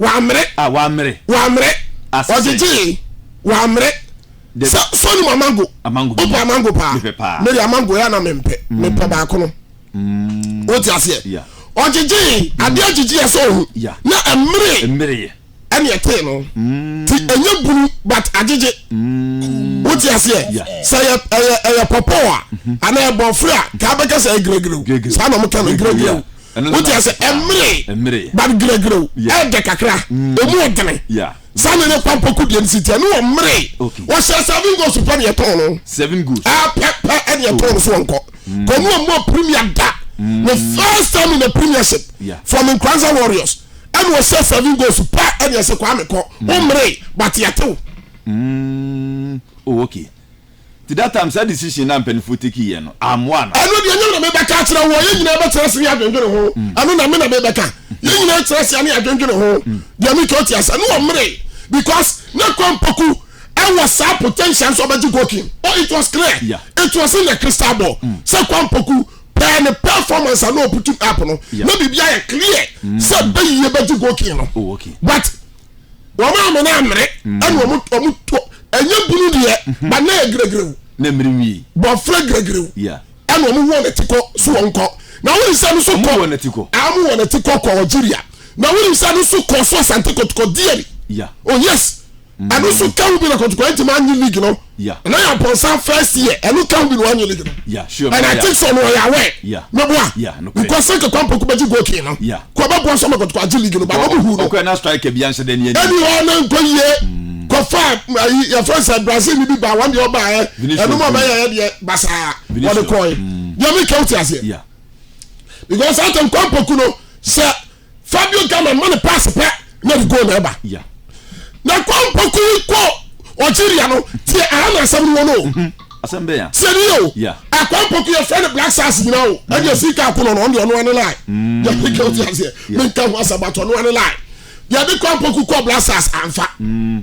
wɔammere. A wɔammere. Wɔammere. Ase sɛ. Ɔgyegyee. Wɔammere. De. Sɛ sɔni mu amango. Amango. Wopɛ amango paa. Mepɛ paa. Mede amango yɛ na mempɛ. Mm. Mepɛ baako no. Mm. Wote aseɛ. Yeah. Ɔgyegyee. Mm. Adeɛ agyegye yɛ sɛ ohu. Yeah. Na ɛmmere. Ɛmmere yɛ. Ɛne ɛtee no. Mm. Ti ɛnyɛ bunu but agyegye. Mm. Wote aseɛ. Yeah. Sɛ ɛyɛ ɛyɛ ɛyɛ pɔpɔ a. Mm-hmm. Anaa ɛbɔfra. Kaa bɛka sɛ ɛgirɛgirɛw. Saa na ɔmo kɛ no gire gire. wote ase ɛmere but giragirao ɛɛdɛ kakra emu ɔdene saa na ne kwan pɔku deɛ nsi tia ne wɔ mmere wɔhyɛ seven goals pɛ ne ɛtɔn no seven goals ɛpɛ pɛ ɛne ɛtɔn no so wɔnkɔ kɔmu a mu premier da ne first time in the premiership from Nkranza Warriors ɛne wɔhyɛ seven goals pɛ ɛne ɛsɛ kwa mekɔ wɔmmere but yɛtew oh okay Nti that time saa decision na mpanyinfoɔ take yɛ no ammoa no. Ɛno deɛ ɛnyɛ me na mebɛka akyerɛ wo, yɛn nyinaa bɛtena ase ne adwendwene ho, ɛno na me na mebɛka, yɛn nyinaa tena ase ne adwendwene ho, deɛ metwa wo te ase. Ne wɔmmeree because na Kwampɔku wɔ saa potential nso ɔbɛgye goalking, oh it was clear, it was in the crystal ball sɛ Kwampɔku per ne performance a na ɔputu up no na biribiara yɛ clear sɛ Bayie bɛgye goalking no but wɔn a wɔn amere mm. ɛna wɔn wɔn to ɛnyɛ bunu deɛ mhm. ba na yɛ gregrew na mmiri nwi bɔfra gregrew ɛna wɔn wɔ n'ati kɔ so wɔn kɔ na wɔn nsa no so kɔ wɔn wɔ n'ati kɔ wɔn wɔ n'ati kɔ kɔ ɔgyiria na wɔn nsa no so kɔ so asante kɔtɔkɔ diɛ bi oh yes mm. ɛno so kawo bi na kɔtɔkɔ ɛnti ma anyi league no ɛna yɛ abɔnsan first year ɛno kawo bi na wɔn anyi league no ɛna ati sɔ no ɔyɛ awɛ mɛboa nkɔsɛ kɛkɔ mpɔkubɛgye goal kii no. kɔbɛ boa sɛ ɔmɛkɔtokɔ agye league no ba na ɔmo hu no. ɔkɔɛ na striker bi anhyɛ dɛ ne ɛni. ɛni hɔ na nkɔ yie hmm. kɔfa ayi eh, yɛfrɛ sɛ brazil ni bi ba wɔn deɛ ɔba ɛ ɛnum ɔbɛ yɛ yɛ deɛ basaa wɔde kɔɛ deɛ mi kɛw ti aseɛ because ato nkɔmpoku no sɛ fabio gama ma ne pass pɛ. na de gold na ɛba na kɔ mpɔko yi kɔ ɔgyeria no tiɛ aha na asɛm no wɔ no mhm. asɛm bɛyɛ tiɛ ni o akɔ mpɔko yɛ fɛn ne black stars nyina o mhm. ɛdi esi ka ko no ɔno ɔno ane lai mm. yɛ peke o ti aseɛ mi nka ho asɛm ato ɔno ane lai yɛ de kɔ mpɔko kɔ black stars anfa. Mm.